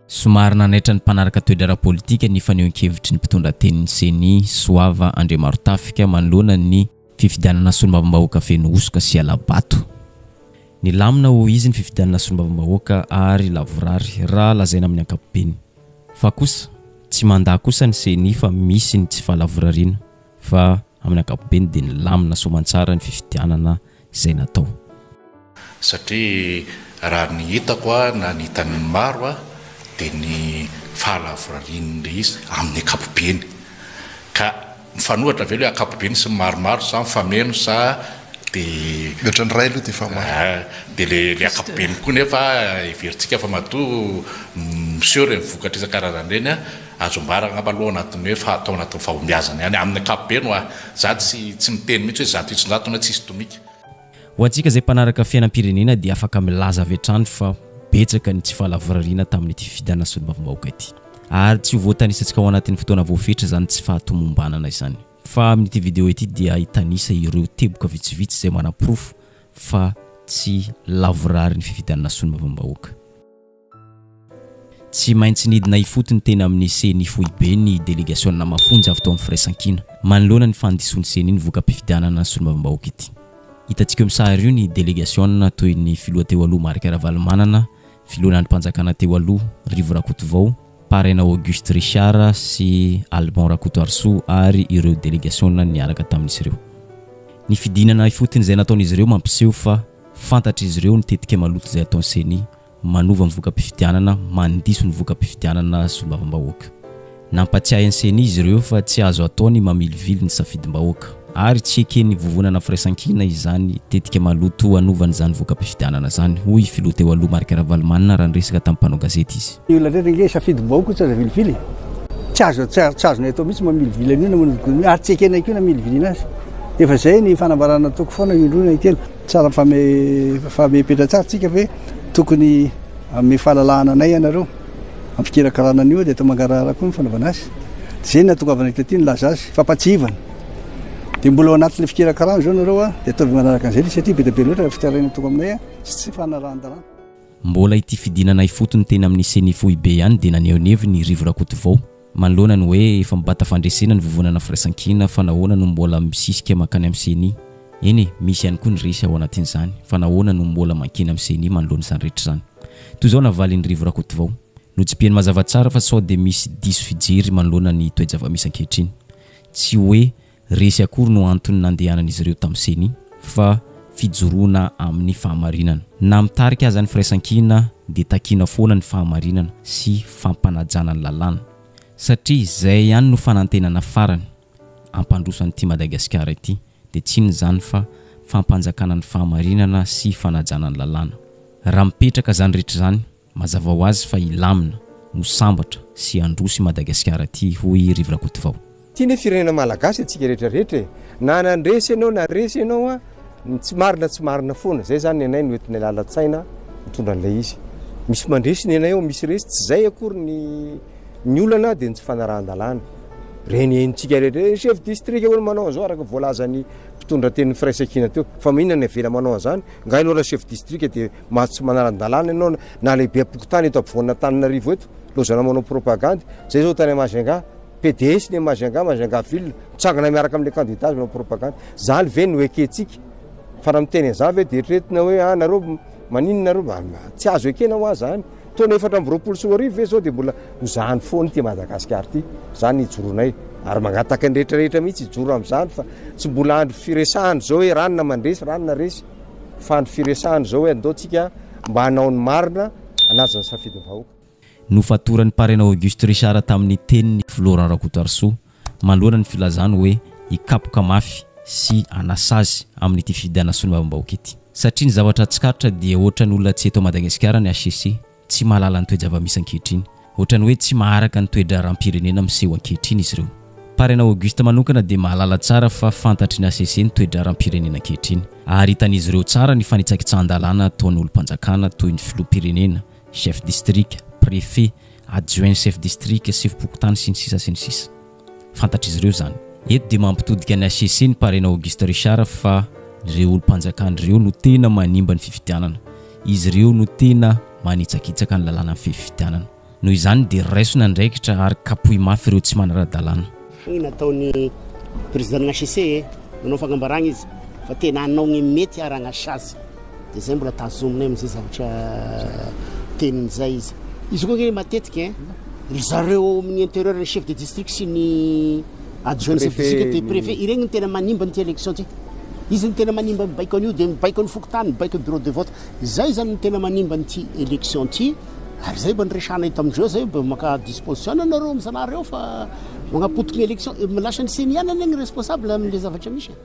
Somary nanaitra ny mpanaraka toetra ara-politika ny fanehoan-kevitry ny mpitondra tenin'ny Ceni, Soava Andriamarotafika, manoloana ny. Fifidianana solombavambahoaka feno hosoka sy hala-bato. Nilamina ho izy ny fifidianana solombavambahoaka ary lavorary raha lazaina amin'ny ankapobeny. Fa kosa, tsy mandà kosa ny ceni fa misy ny tsy fahalavorariana fa amin'ny ankapobeny dia nilamina soamantsara ny fifidianana izay natao. Satria raha ny hitako na ny hitan'ny maro dia ny fahalavorarian'ilay izy amin'ny ankapobeny. Ka mifanohitra ve ilay ankapobeny sy ny maromaro sa mifameno sa dia. Ny ohatran'ny iray aloha dia efa maro. Aa dia ilay ankapobeny koa nefa heverintsika fa matoa miseho ireny vokatra isan-karazany ireny an, azo ambara angamba aloha anatin'ny hoe fa atao anatin'ny fahombiazana ihany amin'ny ankapobeny hoa. Za tsy tsy miteny mihitsy hoe zato isan-jatony hoe tsisy tomika. Ho antsika izay mpanaraka fiainam-pirenena dia afaka milaza avy hatrany fa betsaka ny tsy fahalavorariana tamin'ity fifidianana solombavambahoaka ity. Ary tsy ho voatanisantsika ao anatin'ny fotoana voafetra izany tsy fahatomombanana izany. Fa amin'ity video ity dia hitanisa ireo teboka vitsivitsy izay manaporofo fa tsy lavorary ny fifidianana solombavambahoaka. Tsy maintsy nidina ifotony teny amin'ny ceni foibe ny delegasiona mafonja avy tao amin'ny firaisankina manoloana ny fandisoan'ny ceni ny voka-pifidianana ny solombavambahoaka ity. Hitantsika eo amin'ny sary io ny delegasiona toy ny filoha teo aloha Marc Ravalomanana, filohan'ny andrim-panjakana teo aloha Rivo Rakotovao, Paraina Auguste Richard sy Alban Rakotoarisoa ary ireo delegasiona niaraka tamin'izy ireo. Ny fidinana ifotony izay nataon'izy ireo mampiseho fa fantatr'izy ireo ny tetika maloto izay ataon'ny ceni. manova ny voka-pifidianana, mandiso ny voka-pifidianana solombavambahoaka. Nampatsiahy ny Ceni izy ireo fa tsy azo atao ny mamilivily ny safidim-bahoaka ary tsy eken'ny Vovonana Firaisankina izany tetika maloto hanovana izany voka-pifidianana izany, hoy i Filoha teo aloha Marc Ravalomanana raha niresaka tamin'ny mpanao gazety izy. Ny olona rehetra ange safidim-bahoaka tsy azo avilivily e! Tsy azo, tsy azonay atao mihitsy ny mamilivily an'io na manodinkodina io ary tsy ekenay koa ny hamilivilina azy. Efa izay ny fanambarana nataoko foana indroa na intelo. Tsara famefamehy petratsara tsika ve tokony hanome fahalalahana anay ianareo am fikirakarana an'io dia eto mangarahara koa ny fanaovana azy de zay ny atongavana eto aty nilaza azy fampatsihivana dia mbola ao anatin'ilay fikirakarana zao nareo a dia ataovy manaraka an'izay le satria be dia be loatra ny fitarainana toko aminay a sy tsy fanarahan-dalàna. Mbola ity fidinana ifotony teny amin'ny ceni foibe ihany dia naneho ny heviny i Rivo Rakotovao. Manoloana ny hoe efa mibata fandresena ny vovonana firaisankina fa nahoana no mbola misisika mankany amin'ny ceni? Eny e, misy ihany koa ny resy ao anatin'izany fa nahoana no mbola mankeny amin'ny ceni manoloana izany rehetra izany? Toy izao navalin'i Rivo Rakotovao. Notsipihany mazava tsara fa sao dia misy diso fijery manoloana ny toe-java-misy ankehitriny. Tsy hoe resy akory no antony nandehanan'izy ireo tamin'ny ceni fa fijoroana amin'ny fahamarinana. Na mitarika aza ny firaisankina dia takiana foana ny fahamarinana sy fampanajana ny lalàna satria izay ihany no fanantenana farany hampandroso an'ity Madagasikara ity dia tsy inona izany fa fampanjakana ny fahamarinana sy fanajana ny lalàna. Raha mipetraka izany rehetra izany Mazava ho azy fa hilamina no sambatra sy handroso i Madagasikara ity, hoy i Rivo Rakotovao. Ity anie firenena malagasy antsika rehetra rehetra e! Na nandresy ianao na resy ianao an! Ny tsy marina tsy marina foana! Zay zany ny anay no entinay lalan-tsaina mitondra an'ilay izy. Misy mandresy ny anay ao, misy resy, tsy zay akory ny ny olana dia ny tsy fanarahan-dalàna. Reny henontsika rehetra, ny chef district hono manao an'izao araka ny voalazan'ny mpitondra tenin'ny firaisankina teo, fa maninona ny avela manao an'izany? Nga ianao raha chef district dia Mba tsy manaran-dalàna ianao na lehibem-pokontany eto ampovoan'Antananarivo eto, lozana manao propagandy. Zay zao tany Majunga, PDS ny Majunga, Majunga ville, mitsangana miaraka amin'ilay kandida azy manao propagandy. Zany ve no ekentsika? Fa raha miteny an'izany ve dia eritreretina hoe ah nareo maninona nareo mba tsy azo ekena hoa zany? Taona efatra amby roapolo sy roa arivo ve zao dia mbola ho zany foana ity Madagasikara ity? Zany hijoronay ary mangataka ny rehetra rehetra mihitsy hijoro amin'izany fa tsy mbola andro firesahana izao hoe ranona mandresy, ranona resy. Fa ny firesahana izao hoe andao tsika mba hanao ny marina hanaja ny safidin'ny vahoaka. Nofatoran'ny Parrain Auguste Richard tamin'ny tenin'i Filoha Laurent Rakotoarisoa manoloana ny filazany hoe hikapoka mafy sy hanasazy amin'ity fifidianana solombavam-bahoaka ity. Satria ny zavatra tsikaritra dia ohatran'ny olona tsy eto Madagasikara ny HCC. Tsy mahalala ny toe-java-misy ankehitriny. Ohatran'ny hoe tsy maharaka ny toe-draharaham-pirenena miseho ankehitriny izy ireo. Parrain Auguste manokana dia mahalala tsara fa fantatry ny hcc ny toe-draharaham-pirenena ankehitriny. Ary hitan'izy ireo tsara ny fanitsakitsahan-dalàna ataon'ny olom-panjakana toy ny filoham-pirenena, chef district, préfet, adjoint chef district, sefom-pokontany, sy ny sisa sy ny sisa. Fantatr'izy ireo izany. Eto dia mampitodika an'i HCC ny Parena Auguste Richard fa ireo olom-panjakana ireo no tena manimba ny fifidianana. Izy ireo no tena manitsakitsaka ny lalànan'ny fifidianana. Noho izany dia raisina andraikitra ary kapohy mafy ireo tsy manara-dalàna. Fohy nataon'ny Président-n'ny HCC. Nanao fagnambaragna izy fa tena hanao ny mety haharagnash azy de zay mbola tazominay amzay zavatra teniny zay izy. Izy koa nge matetika ein, ry zareo ao amin'ny interieur ny chef de district sy ny adjoint ny chef de district dia prefet iregny no tena manimba an'ity election ty. Izy no tena manimba mibaiko an'io dia mibaiko ny fokontany, mibaiko ny bureau de vote. Zay zany no tena manimba an'ity election ty ary zay mba niresahana eto amindreo zay mba maka disposition nareo amizanareo fa Manapotika ny élection, lasa ny ceni ihany anie ny responsable amin'ilay zavatra misy e.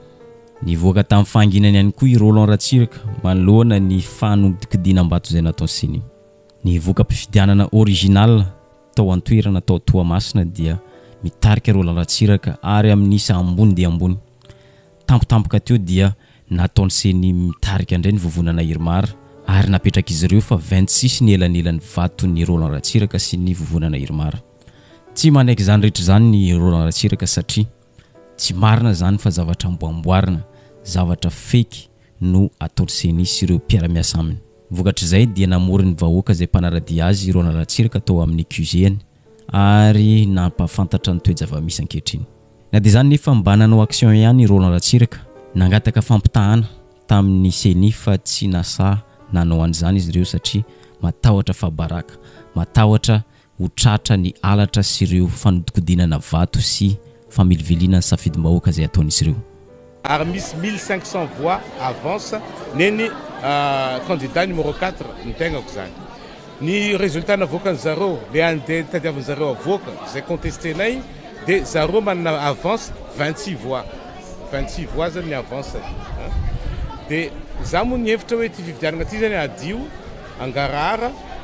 Nivoaka tamin'ny fahanginany ihany koa i Roland Ratsiraka manoloana ny fanodinkodinam-bato izay nataon'ny ceni. Ny voka-pifidianana original tao an-toerana tao Toamasina dia mitarika Roland Ratsiraka ary amin'ny isa ambony dia ambony. Tampotampoka teo dia nataon'ny ceni mitarika indray ny vovonana Irmar ary napetrak'izy ireo fa vingt six ny elanelan'ny vaton'i Roland Ratsiraka sy ny vovonana Irmar. Tsy manaiky izany rehetra izany ny Roland Ratsiraka satria tsy marina izany fa zavatra amboamboarina, zavatra fake no ataon'ny ceni sy ireo mpiara-miasa aminy. Vokatr'izay dia namory ny vahoaka izay mpanara-dia azy i Roland Ratsiraka tao amin'ny QG-ny ary nampahafantatra ny toe-java-misy ankehitriny. Na dia izany nefa mba nanao action ihany i Roland Ratsiraka, nangataka fampitahana tamin'ny ceni fa tsy nasaha nanao an'izany izy ireo satria matahotra fahabaraka, matahotra ho tratra ny halatra sy ireo fanodikodinana vato sy familiviliana ny safidim-bahoaka izay ataon'izy ireo. Ary misy mille cinq cents voix avance nen'ny candidat numéro quatre ny tegnako zany. Ny résultat navoakan'ny zareo, le andeha tadiavin'ny zareo avoaka, izay contester-nay, de zareo manana avance vingt six voix, vingt six voix zany ny avance-ny a! De za moa nihevitra hoe ty fifidianana ty zany hadio, hangarahara,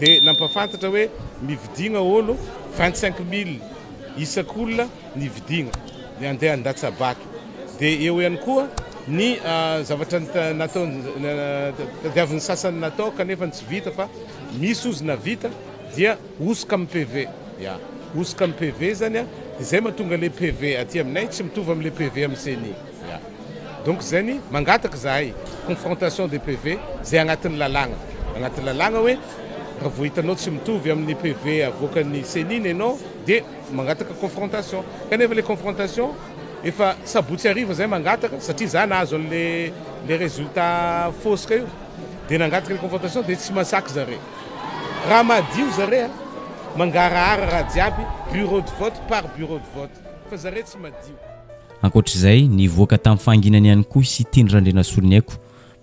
dia nampahafantatra hoe mividiagna olo vingt cinq mille isak'olona ny vidiagna ny andeha handatsa-bato dia eo ihany koa ny zavatra natao tadiavin'ny sasany natao kanefa tsy vita fa misy ozy navita dia hosoka amin'ny PV ya hosoka amin'ny PV zany dia zay mahatonga le PV aty aminay tsy mitovy amin'le PV amin'ny ceni. Ya. Donc zany mangataka zahay confrontation de PV zay agnatin'ny lalàgna, agnatin'ny lalàgna hoe raha vao hitanao tsy mitovy amin'ny PV avoakan'ny ceni ny anao dia mangataka confrontation. Kanefa le confrontation efa sabotsy hariva zahay mangataka satria za nahazo an'le le résultat fosika io dia nangataka le confrontation dia tsy masaky zare. Raha madio zare a! Mangarahara raha jiaby bureau de vote par bureau de vote fa zare tsy madio. Ankoatra izay, nivoaka tamin'ny fahanginany ihany koa i Siteny Randrianasoloniaiko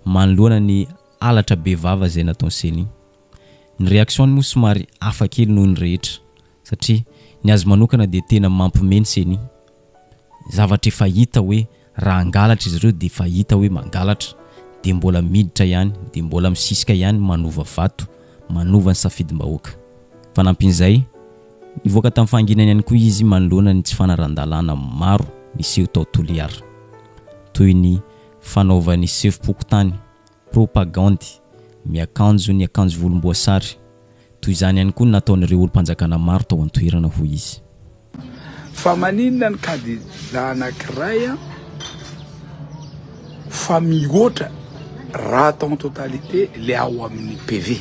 manoloana ny halatra bevava izay nataon'i Ceni. Ny reaction-ny moa somary hafa kely noho ny rehetra satria ny azy manokana dia tena mampiomehy ny Ceni. Zavatra efa hita hoe raha hangalatra izy ireo dia efa hita hoe mangalatra dia mbola miditra ihany, dia mbola misisika ihany manova vato, manova ny safidim-bahoaka. Fanampin'izay. Nivoaka tamin'ny fahanginany ihany koa izy manoloana ny tsy fanaran-dalàna maro niseho tao Toliara, toy ny fanaovany sefom-pokontany, propagandy, miakanjo ny akanjo volomboasary. Toy izany ihany koa ny nataon'ireo olom-panjakana maro tao an-toerana, hoy izy. Fa maninona ny kandida anankiray fa mihoatra raha atao en totalité ilay ao amin'ny PV?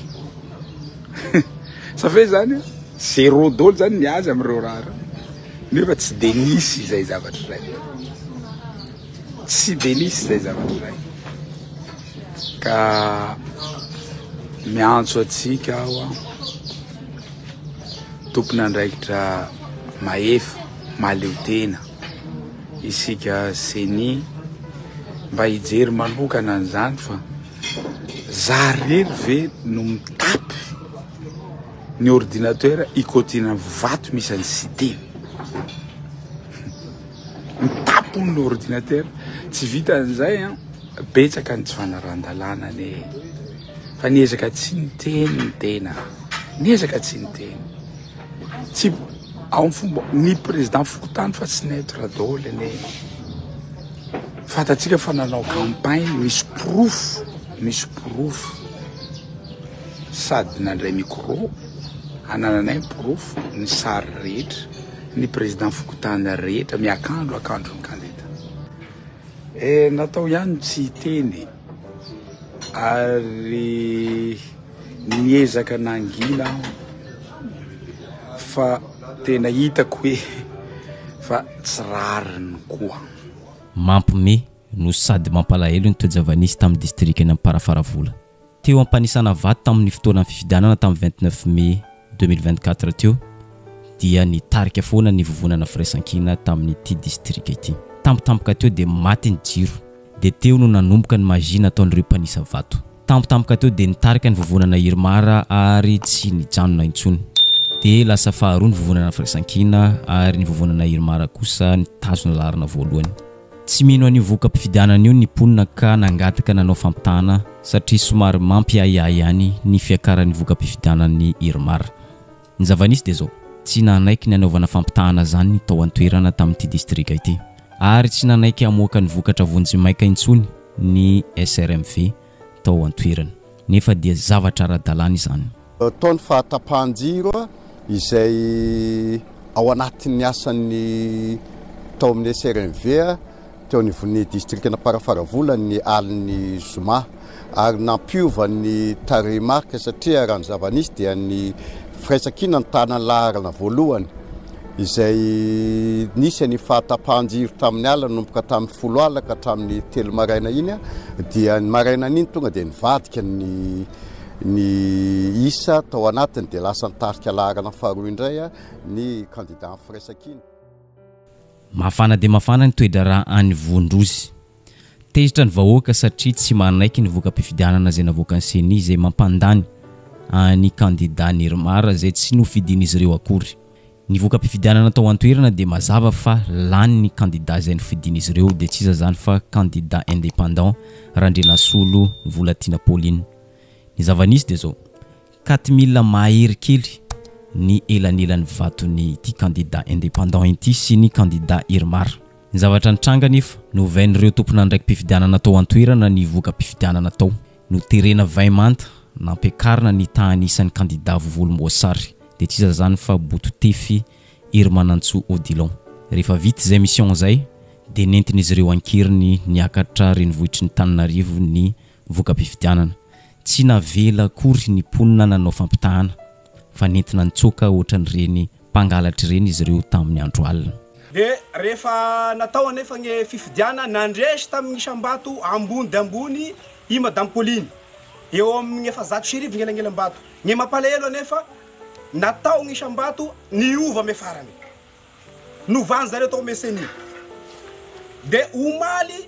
Sa ve zany zero dolo zany ny azy amin'ireo raha ireo? Nefa tsy dia nisy izay zavatra izay. Tsy dia nisy izay zavatra izay. Ka miantso antsika aho aho tompon'andraikitra mahefa mahaleo tena isika CENI mba hijery manokana an'izany fa Za rery ve no mitapy ny ordinateur ikotiana vato misy an'i Siteny. Mitapy hono ny ordinateur, tsy vitan'izay an, betsaka ny tsy fanarahan-dalàna anie e! Fa niezaka tsy niteny ny tena, niezaka tsy niteny. Tsy ao amin'ny fomba ny président fokontany fa tsy neutre daholo anie. Fantatsika fa nanao campagne misy porofo, misy porofo. Sady nandray micro, anananay ny porofo, ny sary rehetra, ny président fokontany rehetra miakandro akandro ny kandida. Eh, natao ihany ny tsy hiteny ary. Niezaka nangina aho fa tena hitako hoe fa tsy rariny koa. Mampme no sady mampalahelo ny toe-java-nisy tamin'ny distrikan'i Amparafaravola, teo am-panisana vato tamin'ny fotoanan'ny fifidianana tamin'ny vingt neuf mai deux mille vingt quatre teo, dia nitarika foana ny vovonana firaisankina tamin'ity distrika ity. Tampotampoka teo dia maty ny jiro, dia teo no nanomboka ny magie nataon'ireo mpanisa vato. Tampotampoka teo dia nitarika ny vovonana Irmar ary tsy nijanona intsony. Dia lasa faharoa ny vovonana Firaisankina ary ny vovonana Irmar kosa nitazona laharana voalohany. Tsy mino an'io voka-pifidianana io ny mponina ka nangataka nanao fampitahana satria somary mampiahiahy ihany ny fiakaran'ny voka-pifidianan'ny Irmar. Ny zava-nisy dia izao, tsy nanaiky ny hanaovana fampitahana izany ny tao an-toerana tamin'ity distrika ity, ary tsy nanaiky hamoaka ny vokatra vonjimaika intsony ny SRMV tao an-toerana, nefa dia zavatra ara-dalàna izany. Tao ny fahatapahan-jiro izay ao anatin'ny asan'ny tao amin'ny SRMV. teo anivon'ny distrikan'Amparafaravola ny alin'ny zoma ary nampiova ny tarehimarika satria raha ny zava-nisy dia ny firaisankina ny tanan'ny laharana voalohany izay nisy ny fahatapahan-jiro tamin'ny alina nanomboka tamin'ny folo alina ka hatramin'ny telo maraina iny dia ny maraina an'iny tonga dia nivadika ny ny isa tao anatiny dia lasa ny tarika laharana faharoa indray ny kandida amin'ny firaisankina. Mafana dia mafana ny toe-draharaha any Vohondrozy. Tezitra ny vahoaka satria tsy manaiky ny voka-pifidianana izay navoakan'ny Ceni izay mampandany an'i kandida Nirmar izay tsy nofidian'izy ireo akory. Ny voka-pifidianana tao an-toerana dia mazava fa lany ny kandida izay nofidian'izy ireo dia tsy iza izany fa kandida independant Randrianasolo Volatiana Pauline. Ny zava-nisy dia izao. Ka ty mila mahery kely ny elanelan'ny vaton'ity kandida indépendant ity sy ny kandida Irmar. Ny zavatra nitranga anefa, novain'ireo tompon'andraiki-pifidianana tao an-toerana ny voka-pifidianana tao. Noterena vay manta, nampiakarina ny tahan'ny isan'ny kandida vovolomboasary. Dia tsy iza izany fa Bototefy Herimanantsoa Odilon. Rehefa vita izay mission izay, dia nentin'izy ireo an-keriny niakatra renivohitry ny Tananarivo ny voka-pifidianana. Tsy navela akory ny mponina nanao fampitahana fa nentina nitsoaka ohatran'ireny mpangalatra ireny izy ireo tamin'ny andro alina. Dia rehefa natao anefa ny fifidianana, nandresy tamin'ny isam-bato ambony dia ambony i Madame Pauline, eo amin'ny efa zato sy arivo ny elanelam-bato. Ny mampalahelo anefa, natao ny isam-bato niova amy farany. Novan'izareo tao amin'ny CENI. Dia omaly.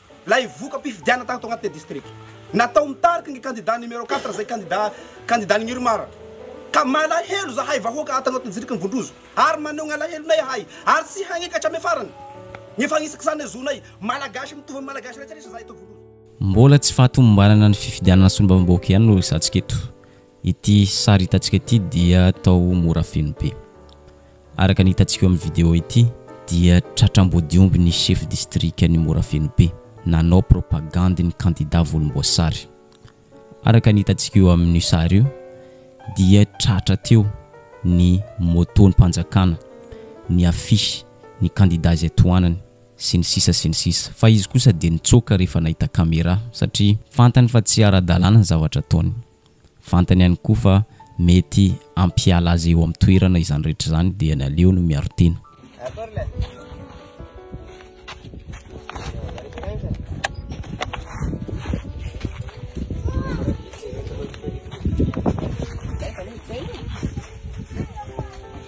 Ilay voka-pifidianana tato anatin'ny distrika. Natao mitariky ny kandida numéro quatre izay kandida kandidan'ny Irmar. Ka malahelo izahay vahoaka ato anatin'ny distrikan'i Vondrozo ary maneho ny alahelonay ahay ary tsy hagnaiky hatramin'ny farany ny fagnisakisana ny zonay. Malagasy mitovy amin'ny Malagasy rehetra rehetra izahay eto Vondrozo. Mbola tsy fahatomombanana ny fifidianana solombavambahoaka ihany no resahantsika eto. Ity sary hitantsika ity dia tao Morafenobe. Araka ny hitantsika eo amin'ny video ity dia tratra ambodiomby ny chef distrikan'i Morafenobe nanao propagandy ny kandida volomboasary. Araka ny hitantsika eo amin'io sary io dia tratra teo ny moton'mpanjakana, ny affiche, ny kandida izay tohanany sy ny sisa sy ny sisa. Fa izy kosa dia nitsoaka rehefa nahita camera satria fantany fa tsy ara-dalàna ny zavatra ataony. Fantany ihany koa fa mety hampiala azy eo amin'ny toerana izany rehetra izany dia ny aleo no miaro tena.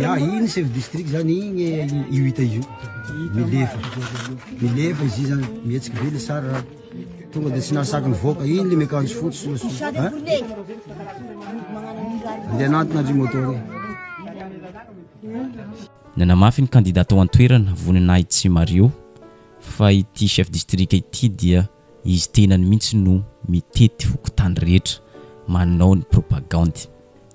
Ya, iny chef district zany iny io hita io. Milefa. Milefa izy zany, mihetsiky be le sary raha. Tonga dia tsy nahasaky nivoaka iny le miakanjo fotsy. Andeha anatona ry moto ry. Nanamafy ny kandida tao an-toerana, Voninahitsimario, fa ity chef district ity dia Izy tenany mihitsy no mitety fokontany rehetra manao ny propagandy.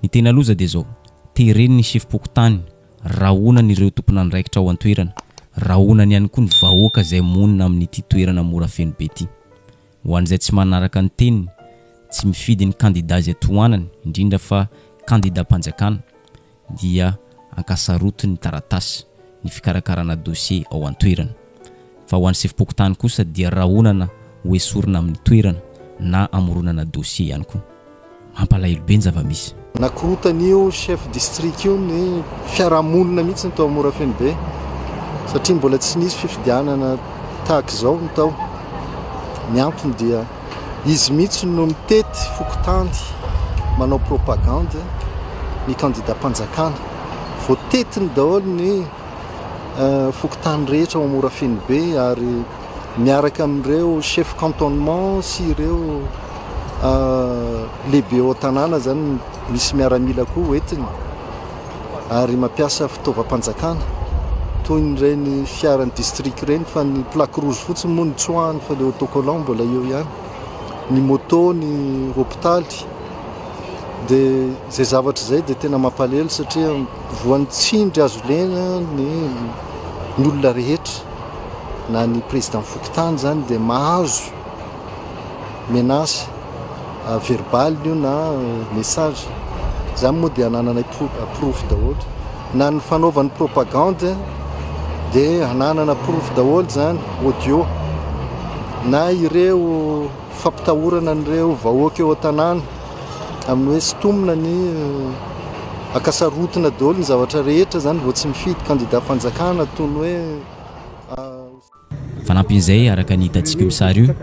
Ny tena loza dia izao, tereny ny sefom-pokontany, rahonany ireo tompon'andraikitra ao an-toerana, rahonany ihany koa ny vahoaka izay monina amin'ity toerana mora feno be ity. Ho an'izay tsy manaraka ny teniny, tsy mifidy ny kandida izay tohanany, indrindra fa kandidam-panjakana, dia ankasaroto ny taratasy, ny fikarakarana dosie ao an-toerana. Fa ho an'ny sefom-pokontany kosa dia rahonana ho esorina amin'ny toerana na amoronana dosie ihany koa. Mampalahelo be ny zava-misy. Nakorontan'io chef district io ny fiarahamonina mihitsy tao Morafenobe satria mbola tsy nisy fifidianana tahaka izao ny tao. Ny antony dia. Izy mihitsy no mitety fokontany manao propagande ny kandidam-panjakana. Voatetiny daholo ny euh, fokontany rehetra ao Morafenobe ary miaraka amin'ireo chef cantonnement sy ireo euh, lehibe ao tanàna zany misy miaramila koa hoentiny. ary mampiasa fitaovam-panjakana toy ireny fiaran'ny district ireny fa ny plaque rouge fotsiny moa no tsoahany fa ilay autocollant mbola eo ihany ny moto ny hopitaly dia izay zavatra izay dia tena mampalelo satria voan'ny tsindry azo lena ny ny olona rehetra na ny président fokontany izany dia mahazo menace verbale io na message zany moa dia anananay porofo daholo na ny fanaovany propagande dia ananana porofo daholo zany audio na ireo fampitahorana an'ireo vahoaka eo an-tanàna amin'ny hoe sitomina ny eh, akasarotina daholo ny zavatra rehetra zany vao tsy mifidy kandida fanjakana toy ny hoe ah, Fanampin'izay, araka ny hitantsika io sary io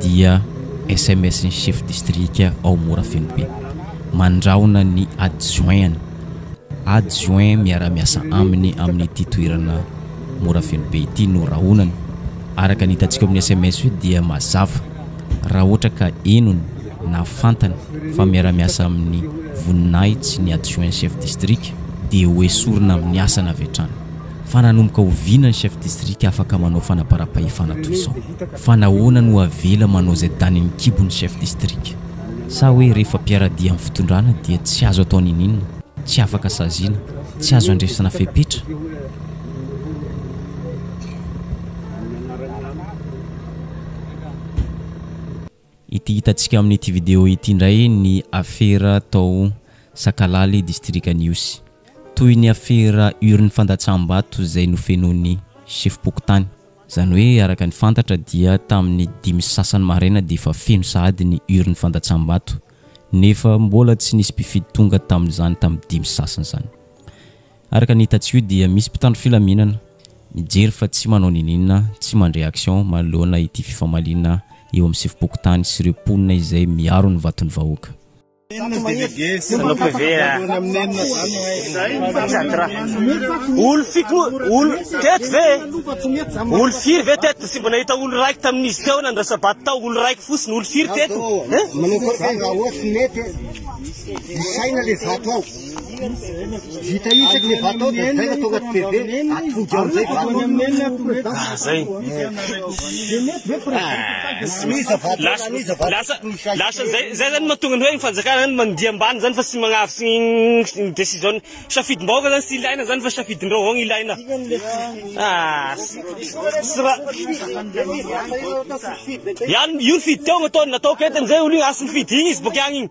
dia sms ny chef distrika ao Morafenobe mandrahona ny adjoint-ny, adjoint miara-miasa aminy amin'ity toerana Morafenobe ity no rahonany. Araka ny hitantsika eo amin'ny sms io dia mazava raha ohatra ka henony na fantany fa miara-miasa amin'ny voninahitsy ny adjoint chef distrika dia hoesorina amin'ny asany avy hatrany. fa nanomboka oviana ny chef district afaka manao fanaparam-pahefana toy izao? Fa nahoana no avela manao izay danin'ny kibo ny chef district? Sa hoe rehefa mpiara-dia amin'ny fitondrana dia tsy azo atao niniana, tsy afaka saziana, tsy azo andresina fepetra? Ity hitantsika amin'ity video ity indray ny afera tao Sakalaly distrika An'Ihosy. Toy ny afera urne fandatsaham-bato izay nofenoin'ny sefom-pokontany. Izany hoe araka ny fantatra dia tamin'ny dimy sy sasany maraina dia efa feno sahady ny urne fandatsaham-bato nefa mbola tsy nisy mpifidy tonga tamin'izany tamin'ny dimy sy sasany izany. Araka ny hitantsio dia misy mpitandro filaminana mijery fa tsy manao niniana, tsy mandre action manoloana ity fifamaliana eo amin'ny sefom-pokontany sy ireo mponina izay miaro ny vaton'ny vahoaka. Vita isa kle vatao dia zay ka tonga TV atojo amizay vatao. Ah zay. Anisa vatao lasa anisa vatao. Lasa lasa zay zay zany mahatonga ny hoe ny fanjakana zany mandia ambany zany fa tsy magnavy sy ny decision safidim-bahoaka zany sy ilaina zany fa safidin-dreo avao ilaina. Ah. Sra. Yan io ny fidy teo natao natao ketiny zay olo io asy ny fidy igny izy boka agny igny.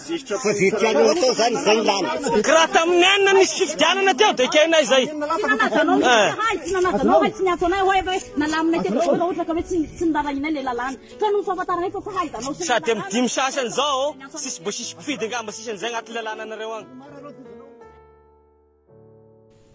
Tsy dia tianao atao zany izay ny lany. Ka raha tamin'ny enina nisy fifidianana teo dia kay na izay. Sady amin'ny dimy sasany izao sisa mbo sisy mpifidy angamba sisa an'izay agnaty lalànanareo agny.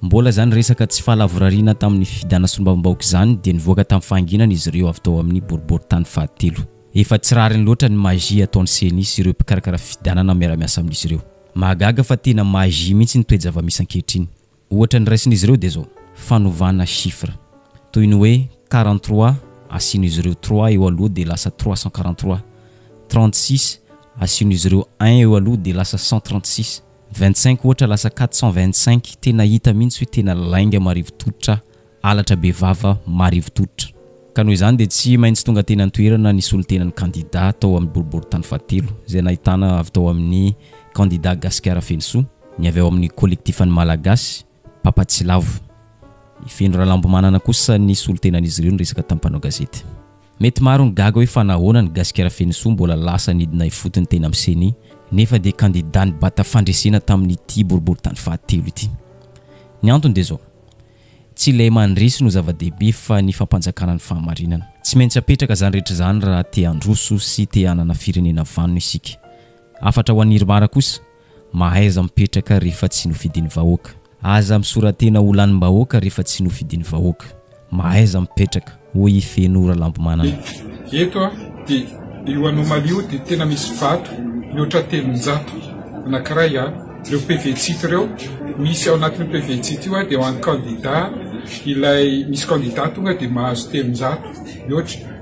Mbola izany resaka tsy fahalavorariana tamin'ny fifidana solombavambahoaka izany dia nivoaka tamin'ny fahanginana izy ireo avy tao amin'ny boriborintany fahatelo. Efa tsy rariny loatra ny magie ataon'ny ceni sy ireo mpikarakara fifidianana miara-miasa amin'izy ireo. Mahagaga fa tena magie mihitsy ny toe-javamisy ankehitriny. Ohatra noraisin'izy ireo dia izao, fanovana chiffre. Toy ny hoe quarante trois asian'izy ireo trois eo aloha dia lasa trois cent quarante trois. Trente six asian'izy ireo un eo aloha dia lasa cent trente six. Vingt cinq ohatra lasa quatre cent vingt cinq tena hita mihitsy hoe tena lainga marivo tototra halatra be vava marivo tototra ka noho izany dia tsy maintsy tonga teny an-toerana ny solontenan'ny kandida tao amin'ny boriborintany fahatelo izay nahitana avy tao amin'ny kandida Gasikara Fenosoa, ny avy ao amin'ny kolektifan'ny Malagasy, Papatsilavu. I Feno Ralambomanana kosa ny solontenan'izy ireo niresaka tamin'ny mpanao gazety. Mety maro ny gaga hoe fa nahoana ny Gasikara Feno Soa mbola lasa nidina ifotony teny amin'ny Ceni nefa dia kandida nibata fandresena tamin'ity boriboritany fahatelo ity. Ny antony dia izao, tsy ilay mandresy no zava-dehibe fa ny fampanjakana ny fahamarinana. Tsy maintsy apetraka izany rehetra izany raha te-handroso sy te-hanana firenena vanona isika. Hafatra ho an'i Irmar kosa, Mahaiza mipetraka rehefa tsy nofidin'ny vahoaka. Aza misora-tena ho lanim-bahoaka rehefa tsy nofidin'ny vahoaka. Mahaiza mipetraka, hoy i Feno Ralambomanana. Eto dia io anomalie io dia tena misy vato mihoatra telonjato. Anankiray ireo PV-tsito ireo, misy ao anatin'io PV-tsito io dia ho an'ny kandida ilay misy kandida tonga dia mahazo telonjato mihoatra.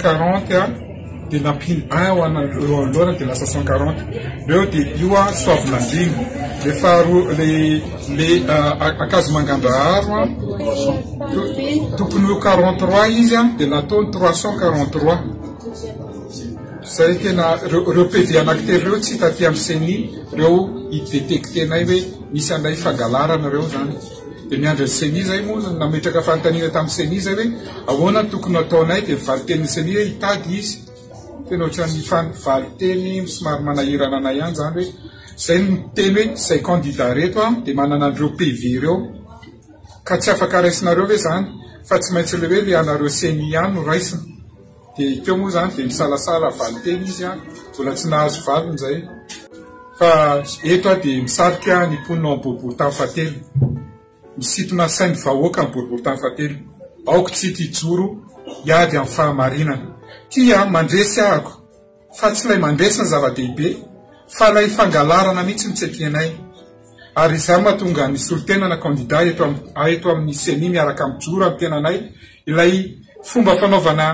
quarante a de nampino un ho ana eo anoloana de lasa cent quarante reo de io a soavinandriana le faharoa le le akazomangandraharo a tokony ho quarante trois izy a de nataony trois cent quarante trois zay tena reo reo PV anakitelo reo tsy hita aty amin'ny ceni reo i détecter-nay hoe misy anay fangalarana reo zany Dia miandry ny ceni izay moa no nametraka fanontaniana tamin'ny ceni izay hoe ahoana no tokony hataonay dia valinteny ny ceni hoe hitady izy. Tena ohatran'ny fan valinteny somary manahirana anay ihany izany hoe izay no miteny hoe izay candidat reto an dia manana an'ireo PV ireo ka tsy afaka raisinareo ve izany fa tsy maintsy le hoe le anareo ceni ihany no raisina. Dia teo moa izany dia nisalasala valinteny izy an, mbola tsy nahazo valiny izay. Fa eto aho dia misarika ny mponina ao amin'ny boribory tany fahatelo. Misintona ny sain'ny vahoaka ny boribory tany fahatelo. Aoka isika hijoro hiady amin'ny fahamarinana. Tia mandresy ahako. fa tsy ilay mandresy ny zava-dehibe fa ilay fangalarana mihitsy no tsy etienay ary izany mahatonga ny solontenana kandida eto eto amin'ny ceni miaraka amin'ny joro amin'ny tenanay ilay fomba fanaovana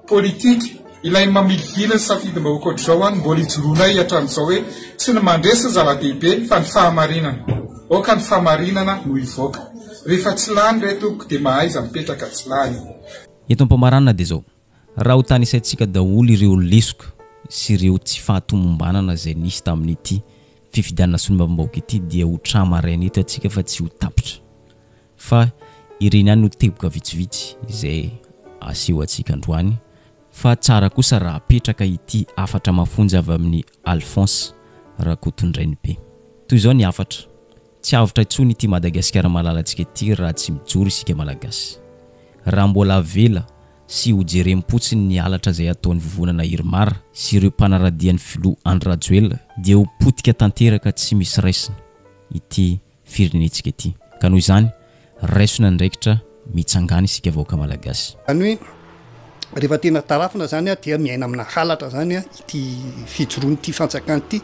politika ilay mamilivily ny safidim-bahoaka ohatr'izao any mbola ijoroanay hatramin'izao hoe tsy ny mandresy ny zava-dehibe fa ny fahamarinana aoka ny fahamarinana no hivoaka rehefa tsy lany re tompoko dia mahaiza mipetraka tsy lany Eto Ampamaranina dia izao, Raha ho tanisaintsika daholo ireo lesoka sy ireo tsy fahatomombanana izay nisy tamin'ity fifidianana solombavambahoaka ity dia ho tra maraina eto atsika fa tsy ho tapitra fa ireny ihany no teboka vitsivitsy izay aseho atsika androany fa tsara kosa raha apetraka ity hafatra mafonja avy amin'ny Alphonse Rakotondrainibe. Toy izao ny hafatra. Tsy avotra intsony ity Madagasikara malalantsika ity raha tsy mijoro isika Malagasy. Raha mbola avela sy ho jerem-potsiny ny halatra izay ataon'ny vovonana Irmar sy ireo mpanaradia ny filoha Andry Rajoelina dia ho potika tanteraka tsy misy raisina ity firenentsika ity. Ka noho izany, Raiso ny andraikitra mitsangana isika vahoaka Malagasy. Zany hoe rehefa tena tarafina zany a dia miaina amina halatra zany a ity fijoroana ity fanjakana ity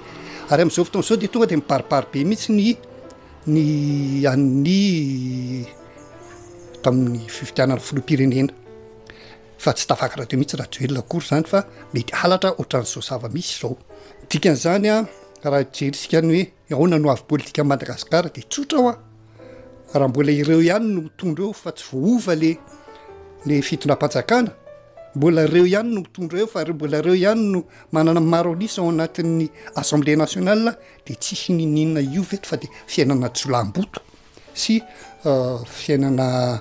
ary amizao fotoana zao dia tonga dia mibaribary be mihitsy ny ny an'ny tamin'ny fifidianana filoham-pirenena fa tsy tafakatra teo mihitsy Rajoelina akory zany fa mety halatra otran'izao zava-misy zao dikan'izany a raha hijery isika ny hoe Ahoana no avy politika Madagascar de tsotra hoa raha mbola ireo ihany no mitondra eo fa tsy voahova le le fitondram-panjakana mbola ireo ihany no mitondra eo fa mbola ireo ihany no manana maro an'isa ao anatin'ny assemblée nationale de tsisy niniana io ve fa de fiainana jolahimboto Sy fiainana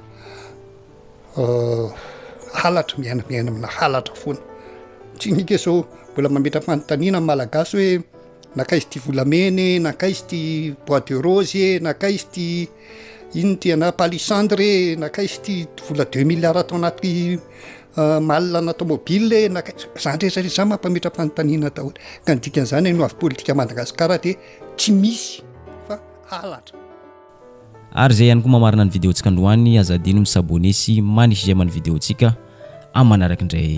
halatra, miaina miaina amina halatra foana. Tsy ny hika izao mbola mametra-panontaniana ny Malagasy hoe nankaiza ity volamena e, nankaiza ity bois de rose e, nankaiza ity inona ity ana palissandre e, nankaiza ity vola deux milliards tao anaty malina ana tomobile e, nankaiza. Izany rehetra rehetra izany mampametra-panontaniana daholo. Ka ny dikan'izany ny hoavin'ny politika Madagasikara dia tsy misy fa. halatra. Ary zay ihany koa mamarana ny video tsika androany aza adino mi s'abonner sy mani j'aime ny video tsika am manaraky ndray.